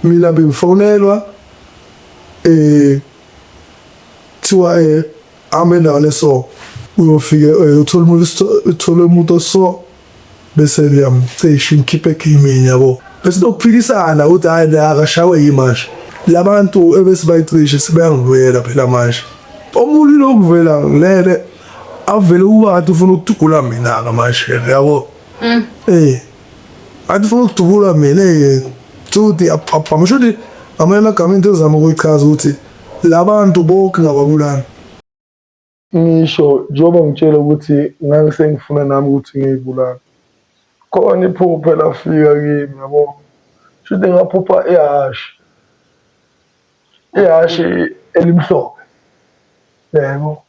Mina bengifonelwa eh kuthiwa eh hamba endaweni eso uyofike eh, uthole umuntu uthole umuntu oso bese ngiyamcisha ngikhiphe egeyimini yabo bese nokuphikisana ukuthi hhayi la akashawe yini manje la bantu ebesibayicishe sebeyangivuyela phela manje omunye lokuvela ngilele avele ubantu ufuna ukudugula mina-ke manje yabo um andifuna ukudubula mina yena futhi abhamusho ukuthi amanye amagama into ezama ukuyichaza ukuthi la bantu bonke ngababulali ngisho njengoba ngitshela ukuthi ngangisengifuna nami ukuthi ngiyibulale khona iphupho elafika kimi yabo shuthi ngaphupha ihhashi ihhashi elimhlophe yebo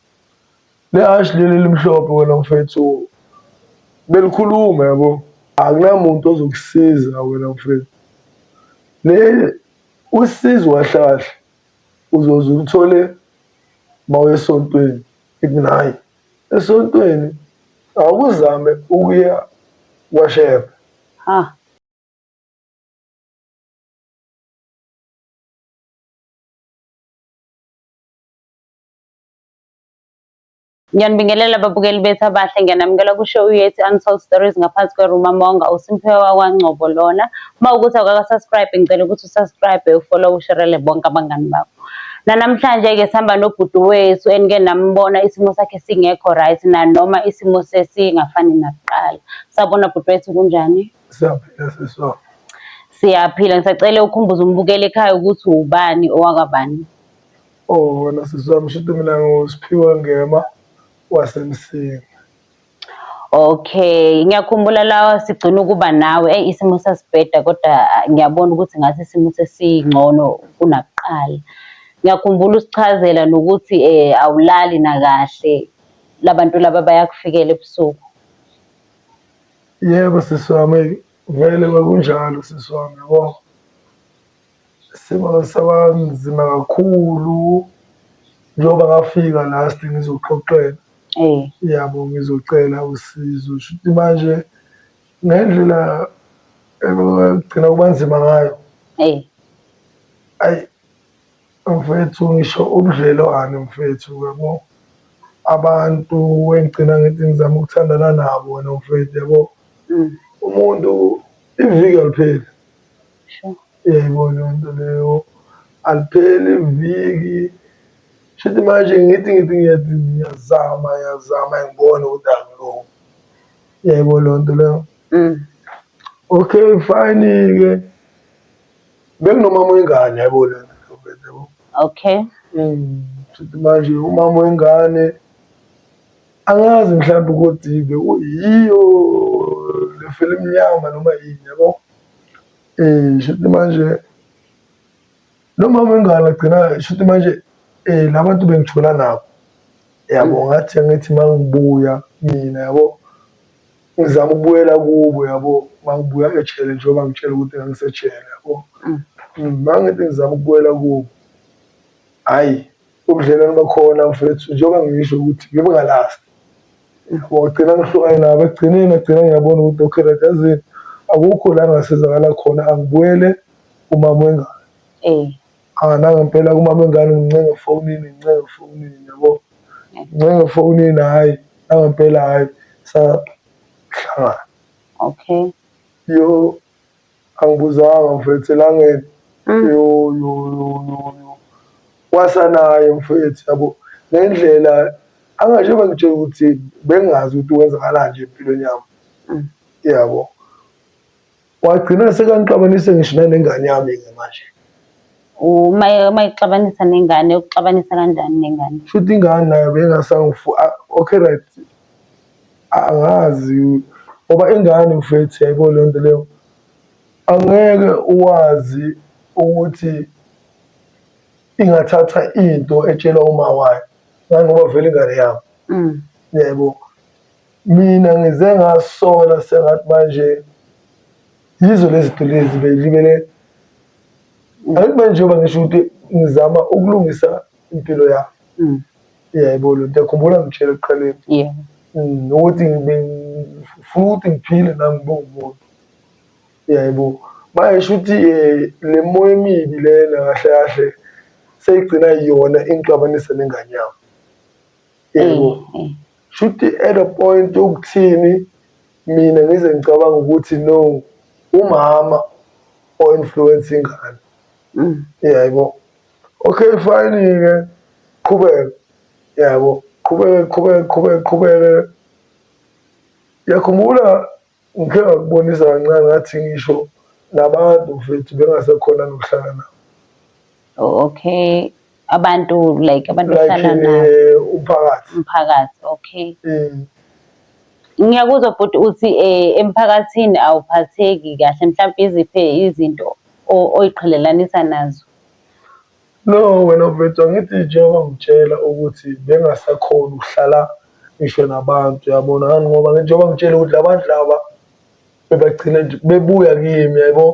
Lehhashi leli elimhlophe wena mfethu belikhuluma yabo, akunamuntu ozokusiza wena mfethu. Le usizo wahlahla uzoze ulithole mawuya esontweni ikunayi esontweni awuzame ukuya kwashepha ha Ngiyanibingelela babukeli bethu abahle ngiyanamukela kusho uyethi Untold Stories ngaphansi kweRuma Monga uSimphiwe wakwaNgcobo lona uma ukuthi awukaka-subscribe ngicela ukuthi usubscribe ufollow usherele bonke abangani bakho nanamhlanje-ke sihamba nobhuti wethu enike nambona isimo sakhe singekho right nanoma isimo sesingafani nakuqala sabona bhuti wethu kunjani siyaphila siswa siyaphila ngisacele ukhumbuza umbukeli ekhaya ukuthi ubani owakabani Oh wena sisi wami shito mina ngusiphiwe ngema wasemsinga. Okay, ngiyakhumbula lawa sigcina ukuba nawe. Eyi isimo sasibheda kodwa ah, ngiyabona ukuthi ngathi isimo sesingcono kunakuqala. Ngiyakhumbula usichazela nokuthi eh awulali nakahle. Labantu laba bayakufikela ebusuku. Yebo sisi wami vele kwakunjalo sisi wami yabo. Isimo saba nzima kakhulu njengoba ngafika last ngizoxoxela eh. yabo ngizocela usizo shuthi manje ngendlela ekugcina kuba nzima ngayo eh. ayi mfethu ngisho ubudlelwane mfethu yabo abantu engigcina ngithi ngizama ukuthandana nabo wena mfethu yabo mm. umuntu iviki alipheli Yebo leyo nto leyo alipheli viki shuthi manje ngithi ngithi ngiyathi ngiyazama ngiyazama ngibone ukuthi akulungi yebo leyo nto leyo mm. okay fine-ke bekunomama wengane yabo leyo nto yabo okay mm. shuthi manje umama wengane angazi mhlawumbe ukuthi-ke uyiyo le fela emnyama noma yini yabo Eh shuthi manje nomama wengane agcina shuthi manje eh labantu bengithola nabo yabo ngathi angithi mangibuya mina yabo ngizama ukubuyela kubo yabo mangibuya ejele njengoba ngitshela ukuthi ngangisejele yabo mm. mm, mangithi ngizama ukubuyela kubo hhayi ubudlelwane bakhona mfethu njengoba ngisho ukuthi ngibe ngalasti Wagcina ngihlukane nabo ekugcineni ngagcina ngiyabona ukuthi okay right yazini akukho la ngasizakala khona angibuyele kumama wengane eh ah nangempela kumama wengane ngincenge efonini ngincenge efonini yabo ngincenge efonini hayi nangempela hayi sahlangana okay yo Angibuzanga mfethu elangeni mm. yo yo yo yo wasanaye mfethu yabo ngendlela angasho bengitshela ukuthi bengazi ukuthi wenzakala nje empilweni yami mm. yabo wagcina sekangixabanise ngisho nanengane yami ke manje uma uma ixabanisa nengane ukuxabanisa kanjani nengane futhi ingane nayo bengasangifu ah, okay right Angazi ngoba ingane mfethu yayibona leyo nto leyo, angeke uwazi ukuthi ingathatha into etshelwa uma wayo ngani ngoba vele ingane yabo mm. yebo mina ngize ngasola sengathi manje yizo lezi zinto lezi belibele angithi manje njengoba ngisho ukuthi ngizama ukulungisa impilo yabo mm. Yebo, lento yakhumbula ngitshela ekuqaleni yeah. Mm, ukuthi ngifuna ukuthi ngiphile nami ngibe umuntu yebo manje shuthi um eh, le moya emibi lena kahle kahle seyigcina yona ingixabanisa nengane yami yebo mm, mm. shuthi at a point yokuthini mina ngize ngicabanga ukuthi no umama o-influence ingane yebo okay fine-ke qhubeka yabo qhubeke qhubeke qhubeke qhubeke yakhumbula ngikhe ngakubonisa kancane ngathi ngisho nabantu mfethu bengasekhona nokuhlala nabo oh, okay abantu like abantu ohlala like, nabo eh, umphakathi umphakathi okay mm. ngiyakuzwa bhuti uthi eh, emphakathini awuphatheki kahle mhlawumbe iziphe izinto oyiqhelelanisa nazo No wena mfethu angithi njengoba ngitshela ukuthi bengasakhoni ukuhlala ngisho nabantu yabona ngani ngoba njengoba ngitshela ukuthi labantu laba bebagcina nje bebuya kimi yaybo.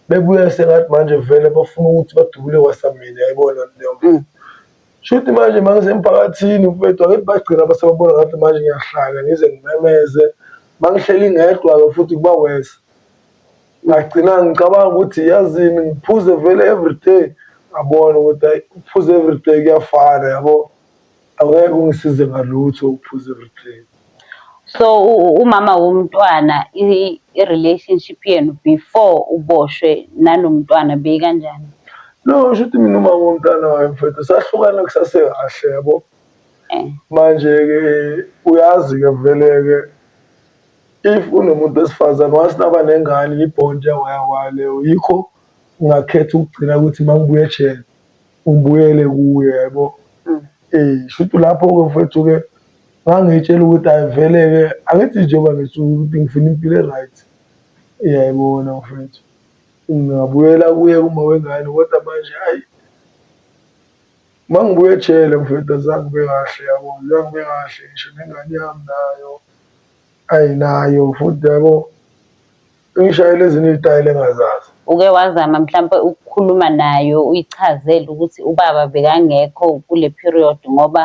Bebuya sengathi manje vele bafuna ukuthi badubule kwasa mina yayibona leyonto. Mm. Shuthi manje mangisemphakathini mfethu angithi bagcina basebabona ngathi manje ngiyahlanya ngize ngimemeze mangihleli ngedwa-ke futhi kuba worse. ngagcina ngicabanga ukuthi yazini ngiphuze vele everyday ngabona ukuthi hayi ukuphuza everyday kuyafana yabo aweke ungisize ngalutho ukuphuza everyday so umama womntwana i-relationship yenu before uboshwe nanomntwana beyikanjani no sho ukuthi mina umama womntwana wayo mfethu sahlukana kusasekahle yabo eh. manje-ke uyazi-ke vele-ke If unomuntu wesifazane once naba nengane yi-bond yawayawaya leyo yikho ngingakhetha ukugcina ukuthi uma ngibuya ejele ngibuyele kuye yabo um eh, shuthi lapho-ke mfethu-ke ngangiyitshela ukuthi ayivele-ke angithi njengoba ngisho ukuthi ngifuna impilo e-right iyayibona mfethu ngingabuyela kuye uma wengane kodwa manje ayi Uma ngibuya ejele mfethu azange kube kahle yabo, zange kube kahle ngisho nengane yami nayo ayi nayo futhi yabo ingishayela ezinye iy'tayela engazazi. Uke wazama mhlampe ukukhuluma nayo uyichazele ukuthi ubaba bekangekho kule period ngoba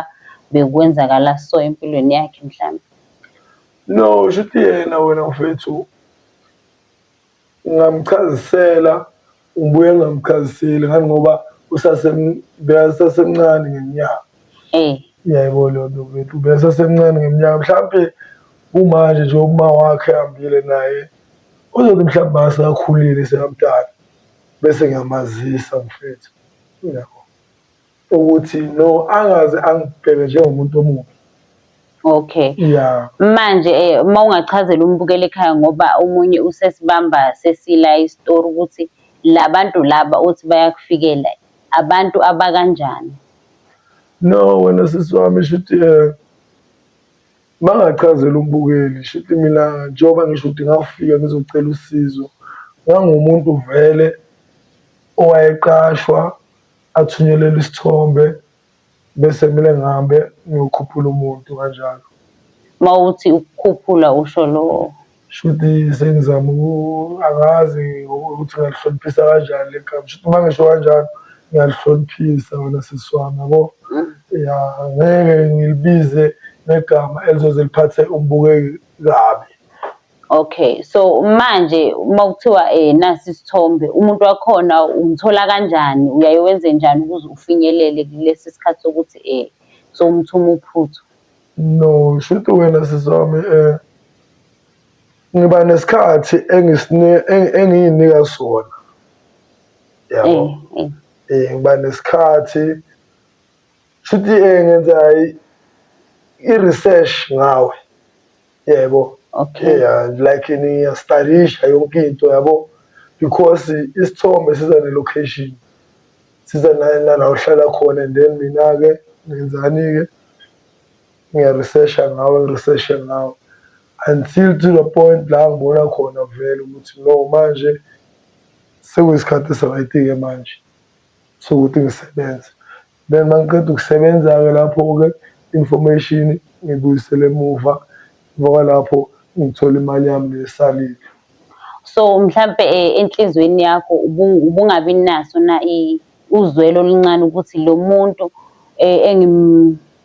bekwenzakala so empilweni yakhe mhlampe? No, shuthi yena wena mfethu Ngingamchazisela ngibuye ngingamchaziseli ngani ngoba usasemncane ngeminyaka eh. yebo leyo nto bethu ubesasemncane ngeminyaka mhlawumpe kumanje nje uma wakhe hambile naye uzothi mhlawumbe maseakhulile sekamdala bese ngiyamazisa mfethu yabo ukuthi no angaze angibheke njengomuntu omubi Okay. Yeah. Manje eh uma ungachazela umbukeli ekhaya ngoba omunye usesibamba sesila istory ukuthi labantu laba uthi bayakufikela abantu abakanjani. No wena sisi wami shuthi eh bangachazela umbukeli shuthi mina njengoba ngisho ukuthi ngafika ngizocela usizo ngangumuntu vele owayeqashwa athunyelele isithombe bese kumele ngihambe ngiyokhuphula umuntu kanjalo uma uthi ukukhuphula usho lowo shuthi sengizama angazi ukuthi ngalihloniphisa kanjani le gama shuthi uma ngisho kanjalo ngiyalihloniphisa wena sisi wami yabo mm. ya ngeke ngilibize negama elizoze liphathe umbukeki kabi Okay so manje uma kuthiwa eh nasi isithombe umuntu wakhona umthola kanjani uyaye wenze njani ukuze ufinyelele kulesi sikhathi sokuthi eh so umthuma uphuthu no shuthi wena sizami eh ngiba nesikhathi engisine engiyinika sona yabo eh, eh. eh ngiba nesikhathi shuthi eh ngenza i-research ngawe yebo okay yeah, like niyastarisha yonke into yabo because isithombe siza ne-location siza nala uhlala khona and then mina-ke ngenzani-ke ngiyaresearcha ngawe ngiresearche ngawe until to the point la ngibona khona vele ukuthi no manje sekuyisikhathi esirayiti-ke manje sokuthi ngisebenze Then uma ngiqeda ukusebenza-ke lapho-ke information ngibuyisele emuva emva kwalapho ngithole imali yami lesalile so mhlampe eh, enhlizweni yakho ubungabi naso na uzwelo oluncane ukuthi lo muntu eh,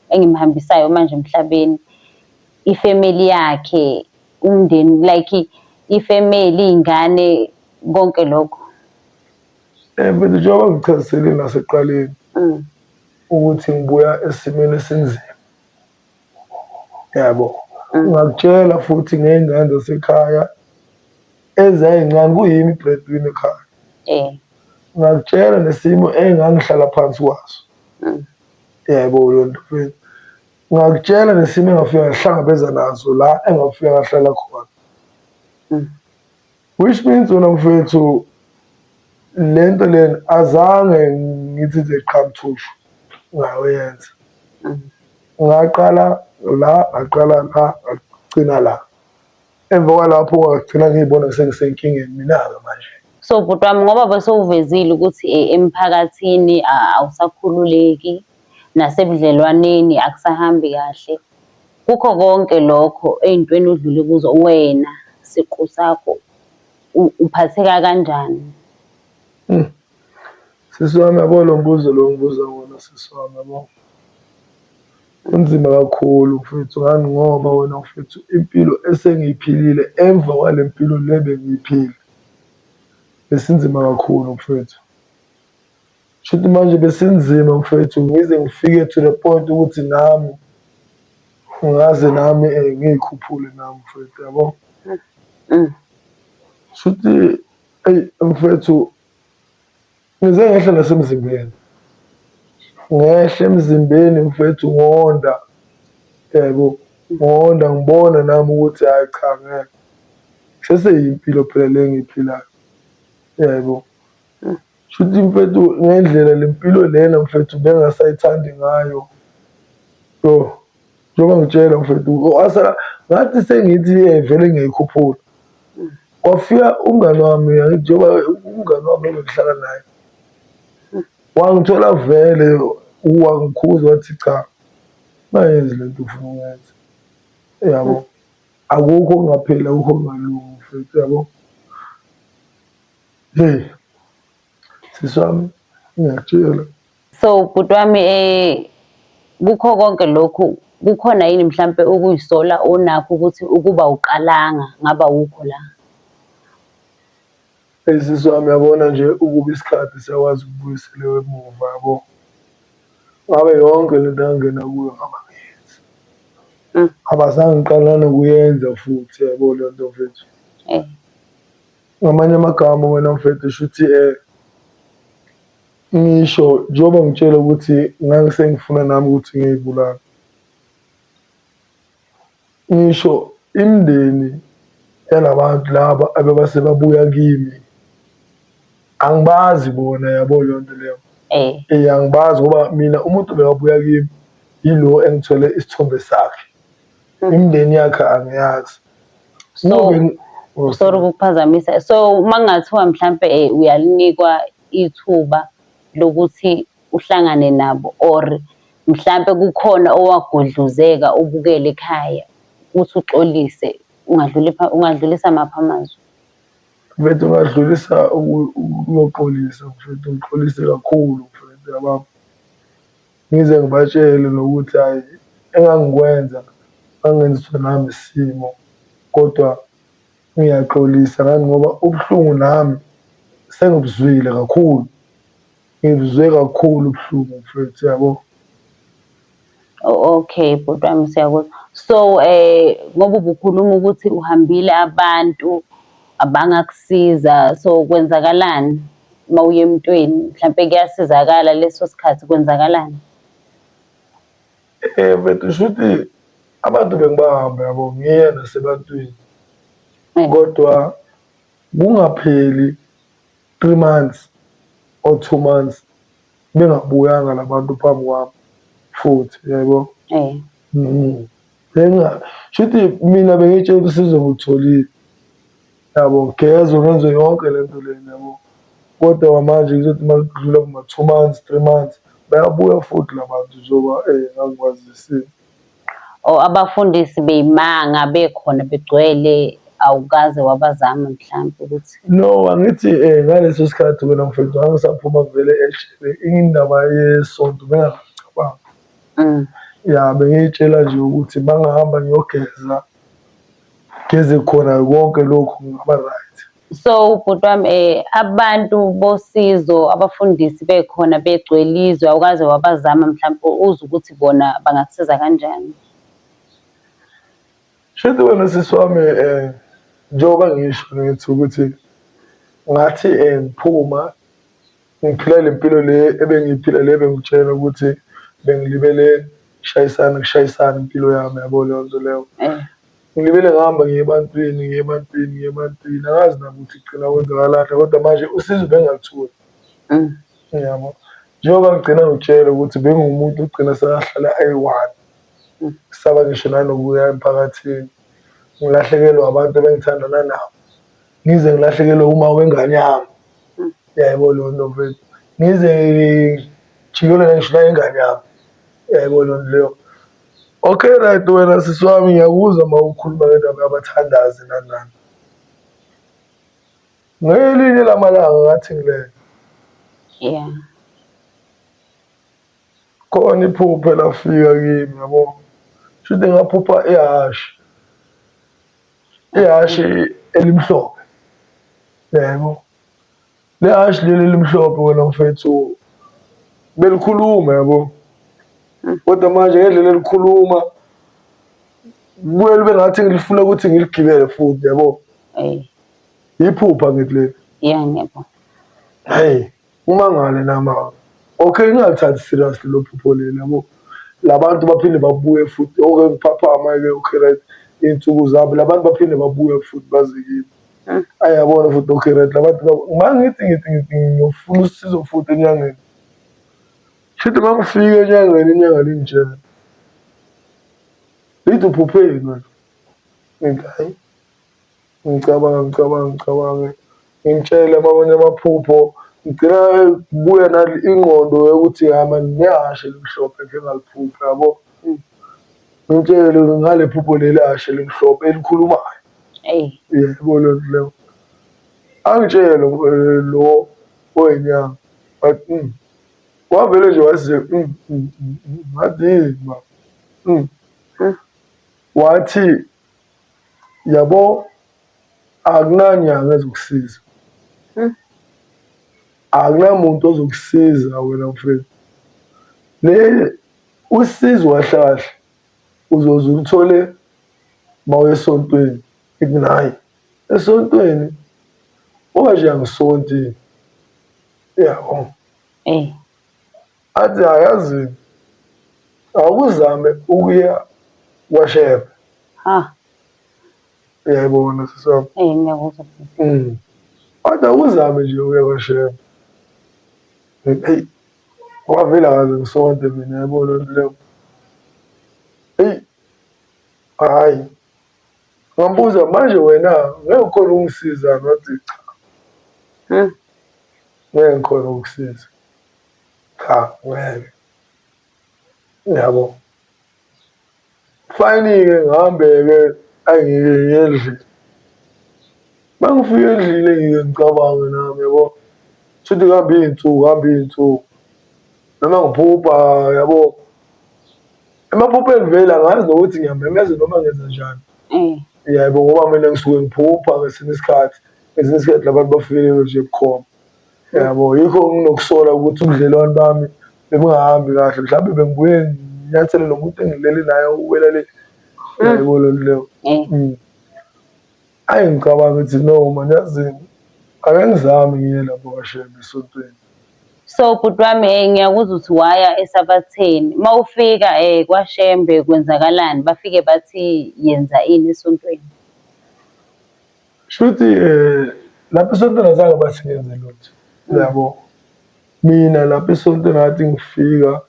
engimhambisayo manje emhlabeni ifamily yakhe umndeni like ifamily ingane konke lokho Eh, mfethu njengoba ngichazisele nasekuqaleni mm. ukuthi ngibuya esimeni esinzima yabo mm. ngakutshela futhi ngey'ngane zasekhaya ezayincane kuyimi i-breadwin ekhaya eh. ngakutshela nesimo engangihlala phansi kwaso mm. yebo lonto mfethu ngakutshela nesimo engafika ngahlangabeza nazo la engafika ngahlala khona Which means wena mfethu le nto lena azange ngithi nje qhamthushu ngayoyenza ngaqala la ngaqala la ngagcina la emva kwalapho ngagcina ngiyibona sengisenkingeni mina-ke manje so bhuti wami ngoba besewuvezile ukuthi eh, emphakathini awusakhululeki nasebudlelwaneni akusahambi kahle. Kukho konke lokho ey'ntweni odlule kuzo wena siqu sakho uphatheka kanjani? Hmm. Sisi wami yabo lo mbuzo lo ngibuza wona sisi wami yabo. Kunzima kakhulu mfwethu ngani ngoba wena mfwethu impilo esengiyiphilile emva kwale mpilo le bengiyiphila. Besinzima kakhulu mfwethu. Shuthi manje besinzima mfwethu ngize ngifike to the point ukuthi nami ngaze nami eh, ngiyikhuphule nami mfwethu yabo mm. shuthi eyi mfwethu ngize ngehle nasemzimbeni ngehle emzimbeni mfwethu ngonda yebo ngonda ngibona nami ukuthi hhayi cha ngeke seseyimpilo phela le ngiyiphilayo yebo Shuthi mfethu ngendlela le mpilo lena mfethu bengasayithandi ngayo yo njengoba ngitshela mfethu asala ngathi sengithi vele ngiyayikhuphula kwafika umngani wami njengoba umngani wami engihlala naye wangithola vele wangikhuza wathi cha ungayenzi le nto ufuna uyenza yabo akukho okungapheli akukho okungalungi mfethu yabo Hey. Sisi wami ngiyakutshela. So bhuti wami eh kukho konke lokhu kukhona yini mhlampe ukuyisola onakho ukuthi ukuba uqalanga ngaba wukho la? Hey sisi wami yabona nje ukuba isikhathi siyakwazi ukubuyisela emuva yabo. Ngabe yonke lento engangena kuyo ngaba ngiyenzi. Abazange ngiqala nokuyenza futhi yabo lento mfethu. Eh. Ngamanye amagama wena mfethu shuthi um ngisho njengoba ngitshela ukuthi ngangisengifuna nami ukuthi ngiyibulala ngisho imindeni yalabantu laba abebase babuya kimi angibazi bona yabo leyo nto leyo eh. eh angibazi ngoba mina umuntu bekabuya kimi yilo engithole isithombe sakhe Imindeni yakhe angiyazi. So Uyobe- Oh, sorry ukukuphazamisa. So uma kungathiwa mhlampe eh, uyalinikwa ithuba lokuthi uhlangane nabo or mhlampe kukhona owagodluzeka ubukele ekhaya ukuthi uxolise ungadluli pha- ungadlulisa maphi amazwi. mfethu ungadlulisa uku- ukuyoxolisa mfethu uxolise kakhulu mfethu yababa Ngize ngibatshele nokuthi hhayi engangikwenza ngangenziswa nami isimo kodwa ngiyaxolisa ngani ngoba ubuhlungu nami sengibuzwile kakhulu, ngibuzwe kakhulu ubuhlungu mfwethu yabo. Okay bhuti wami siyakuzwa. So eh ngoba ubukhuluma ukuthi uhambile abantu abangakusiza so kwenzakalani? uma uye emntwini mhlampe kuyasizakala leso sikhathi kwenzakalani eh but shuthi abantu bengibahamba yabo ngiye nasebantwini eh. kodwa kungapheli 3 months or 2 months bengabuyanga labantu phambi kwami futhi yebo eh mm. benga shuthi mina bengitshela ukuthi sizokutholile Yabo ngigezwe ngenze yonke le nto lena yabo kodwa kwamanje kuzothi uma kudlula kuma-two months, three months bayabuya futhi la bantu njengoba um ngangikwazisile. Or abafundisi beyimanga bekhona begcwele awukaze wabazama mhlampe ukuthi No, angithi um ngaleso sikhathi wena mfethu ngangisaphuma vele eshele indaba yesonto bengangicabanga. mm, Ya bengiyitshela nje ukuthi mangihamba ngiyogeza Geze khona konke lokhu ngaba right. So bhuti wami eh abantu bosizo abafundisi bekhona begcwele izwe awukaze wabazama mhlawumbe uze ukuthi bona bangakusiza kanjani. Shade wena sisi wami eh njengoba ngisho ngithi ukuthi ngathi eh, ngiphuma Ngiphila le mpilo le ebengiyiphila le bengitshela ukuthi bengilibele shayisana kushayisana impilo yami yabo leyo nto leyo eh. ngilibele ngihamba ngiye ebantwini ngiye ebantwini ngiye ebantwini angazi nakuthi gcina kwenzakalahla kodwa manje usizo bengingalitholi mm. yabo njengoba ngigcina ngitshele ukuthi bengumuntu ogcina sekahlala ayi-one mm. saba ngisho nanokuya emphakathini ngilahlekelwa abantu ebengithandana nabo ngize ngilahlekelwe uma wengane yami hmm. yaybo lo nto mfethu ngize jikelele ngisho nayengane yami yaybo lo nto leyo okay right wena sisi wami ngiyakuzwa uma ukhuluma ngendaba yabathandazi nani nani ngelinye lamalanga ngathi ngilele yeah khona iphuphe lafika kimi yabo shuthi ngaphupha ihhashi ihhashi elimhlophe yebo le hhashi leli elimhlophe wena mfethu belikhuluma yabo hmm. kodwa manje ngendlela elikhuluma kuye libe ngathi ngilifuna ukuthi ngiligibele futhi yabo iphupha ngithi leli yeah ngiyabona hey Umangale namama. Okay ningalithathi serious lelo phupho leli yabo. Labantu baphinde babuye futhi okay ngiphaphama ke okay right insuku zabo labantu baphinde babuye futhi baze kimi. Mm. Ayabona futhi okay right labantu mangithi ngithi ngithi ngiyofuna usizo futhi enyangeni. Shithi mangifike enyangeni inyanga lingitshela. Lithi uphupheni wena. Ngithi hayi Ngicabanga ngicabanga ngicabange ngimtshele amanye amaphupho ngigcina kubuya nale ingqondo yokuthi hhayi mani nehhashi elimhlophe engike ngaliphupha yabo. Ngimtshele ngale phupho leli hhashi elimhlophe elikhulumayo. Eyi. Yebo leyo nto leyo. Angitshele lo oyinyanga but wavele nje wathi nje ngathi yini baba wathi. yabo akunanyanga ezokusiza hmm. akunamuntu ozokusiza wena mfethu le usizo wahlahla uzoze uthole mawesontweni ikunayi esontweni oba nje angisonti yabo eh athi ayazi awuzame ukuya kwashebe ha uyayibona sisi wami eh ngiyakuzwa sisi mm. kodwa awuzame nje ukuya kwashebe eyi wavele akaze ngisonte mina yabo loo nto leyo eyi hhayi ngambuza manje wena ngeke ukhona ukungisiza ngathi cha hmm. ngeke ngikhona ukusiza cha ngeke yabo fayini-ke ngihambe-ke angike ngendlini uma ngifika endlini engike ngicabange nami yabo shuthi kuhambe iy'nsuku hambe iy'nsuku noma ngiphupha yabo emaphupheni vele angazi nokuthi ngiyamemeza noma ngenza njani mm. yebo ngoba mina ngisuke ngiphupha ngesinye isikhathi ngesinye isikhathi labantu bafikelelwe nje bukhoma yabo yikho nginokusola ukuthi ubudlelwane bami bebungahambi kahle mhlawumbe bengibuye nginyathele lo muntu engilele naye uwela le mm. yaybo loo nto leyo eh. mm. ayi ngicabanga ukuthi no mani yazini ake ngizame ngiye lapho kashembe esontweni so bhuti wami um ngiyakuza ukuthi waya esabatheni uma ufika um kwashembe kwenzakalani bafike bathi yenza ini esontweni Shuthi eh lapha esontweni azange basingenze lutho. Yabo. Mina lapha esontweni ngathi ngifika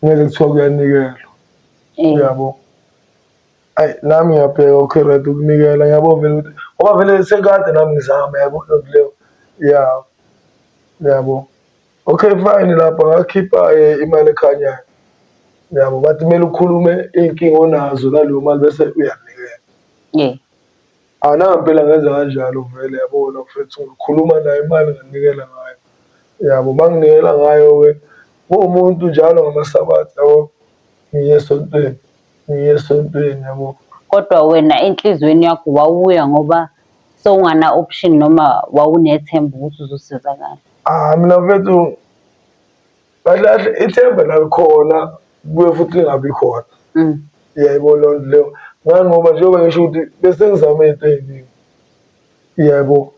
ngeke kuthiwa kuyanikelwa. Eh. Yabo. Ayi nami ngiyabheka okay right ukunikela yabo vele ukuthi ngoba vele sekade nami ngizama yabo lento leyo. Yeah. Yabo. Okay fine lapha ngakhipha eh, imali ekhanyayo. Yabo bathi kumele ukhulume inkinga onazo naleyo mali bese uyanikela. Yeah. Anami phela ngenza kanjalo vele yabo wena mfethu ngikhuluma naye imali nginikela ngayo yabo uma nginikela ngayo-ke kuwumuntu njalo ngamasabatha yabo ngiye esontweni ngiye esontweni yabo kodwa wena enhliziyweni yakho wawuya ngoba sewungana option noma wawunethemba ukuthi uzosizakala ah mina mfethu kahle kahle ithemba lalikhona kuye futhi lingabi khona mm. yebo loo nto leyo ngani ngoba njengoba ngisho ukuthi bese ngizame into ey'ningi yebo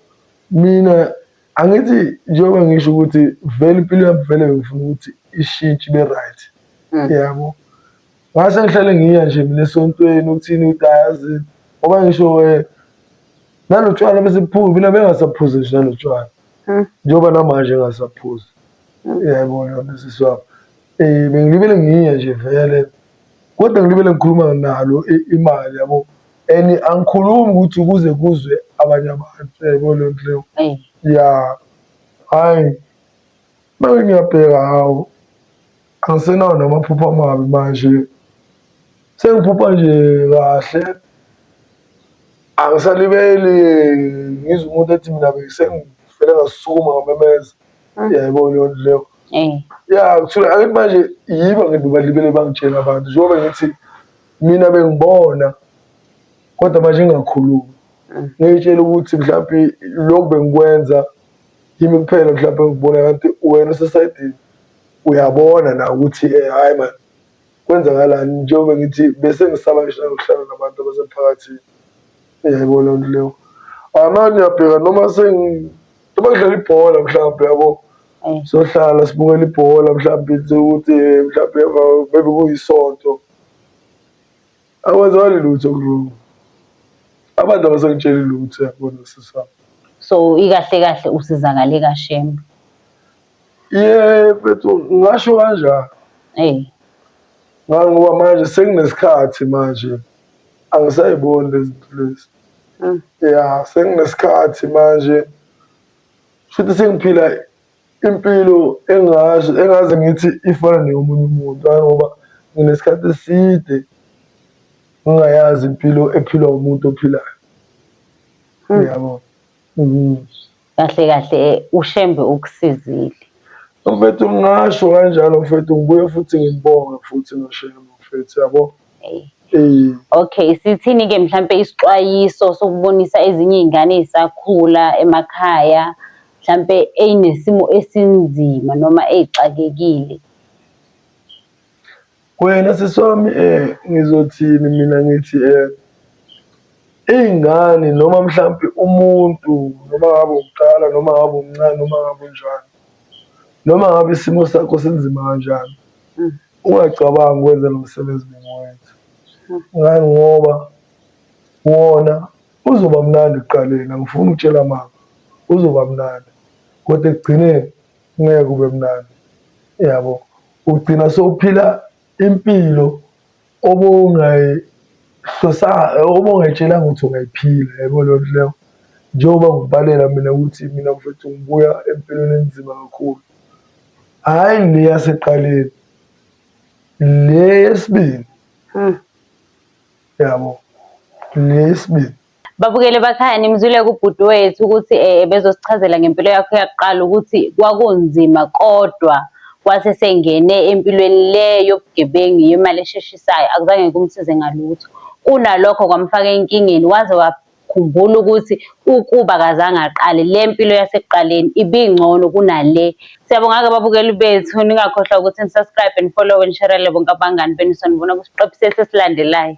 mina angithi njengoba ngisho ukuthi vele impilo yami vele bengifuna ukuthi ishintshe ibe right mm. yebo ngase ngihlale ngiya nje mina esontweni ukuthini ukuthi ayazi ngoba ngisho um eh, nalotshwala besebuphuzi mina bengasaphuzi nje nalotshwala mm. njengoba namanje engasaphuzi Yebo lona sisi wami. Eh bengilibele ngiye nje vele. Kodwa ngilibele ngikhuluma nalo imali yabo. And angikhulumi ukuthi kuze kuzwe abanye abantu yebo le ndlela. Yeah. Hayi. Manje ngiyabheka hawo. Angisenawo namaphupho amabi manje. Sengiphupha nje kahle. Angisalibeli ngizwa umuntu ethi mina bengisengifele ngasukuma ngamemeza. Uyayibona yonto leyo. Eh. Ya kusuka akethi manje yiba ngithi balibele bangitshela abantu njengoba ngithi mina bengibona kodwa manje ngingakhulumi. Mm. Ngiyitshela ukuthi mhlawumbe lokhu bengikwenza yimi kuphela mhlawumbe ngikubona kanti wena usesayidini uyabona na ukuthi eh, hhayi mani kwenzakalani njengoba ngithi bese ngisaba ngisho nanokuhlala nabantu abasemphakathini. Uyayibona lento leyo. Amanye uyabheka noma Uma kudlala ibhola mhlawumbe yabo eh. sohlala sibukela ibhola mhlawumbe ukuthi eh, mhlawumbe emva maybe kuyisonto awazali lutho wrong abantu abasangitsheli lutho yabona sisami so ikahle kahle usizakale kashembe Ye mfethu ngasho kanjani? Hey. Ngangoba manje senginesikhathi manje angisayiboni lezi zinto lezi. Mm. Ya senginesikhathi manje futhi sengiphila impilo engazi engaze ngithi ifana neyomunye umuntu ngoba nginesikhathi eside ngingayazi impilo ephilwa umuntu ophilayo. Mm. Yabo. Mm. kahle kahle ushembe ukusizile mfethu ngingasho kanjalo mfethu ngibuye futhi ngibonge futhi noshembe mfethu yabo Okay, sithini ke mhlambe isixwayiso sokubonisa ezinye izingane ezisakhula emakhaya mhlambe eyinesimo esinzima noma ezixakekile. Wena sisi wami um ngizothini mina ngithi um iy'ngane noma mhlampe umuntu noma ngabe uqala noma ngabe umncane noma ngabe unjani noma ngabe isimo sakho sinzima kanjani hmm. ungacabangi ukwenza lo msebenzi bengiwenza hmm. ngani ngoba wona uzoba mnandi ekuqaleni angifuni ukutshela mama uzoba mnandi kodwa ekugcineni ngeke kube mnandi yabo ugcina sowuphila impilo obongayihlosayo obongayitshelanga ukuthi ungayiphila yabo leyo nto leyo njengoba ngikubalela mina ukuthi mina mfethu ngibuya empilweni enzima kakhulu hhayi le yaseqaleni le yesibili hmm. yabo le yesibili Babukele bakhaya nimzwile kubhuti wethu ukuthi eh, bezosichazela ngempilo yakho yakuqala ukuthi kwakunzima kodwa wase sengene empilweni le yobugebengu yemali esheshisayo akuzange kumsize ngalutho kunalokho kwamfaka enkingeni waze wakhumbula ukuthi ukuba kazange aqale le mpilo yasekuqaleni ibingcono kunale siyabonga-ke babukeli bethu ningakhohlwa ukuthi nisubscribe and follow nisherele bonke abangani benu sonibona kusiqephu sesi esilandelayo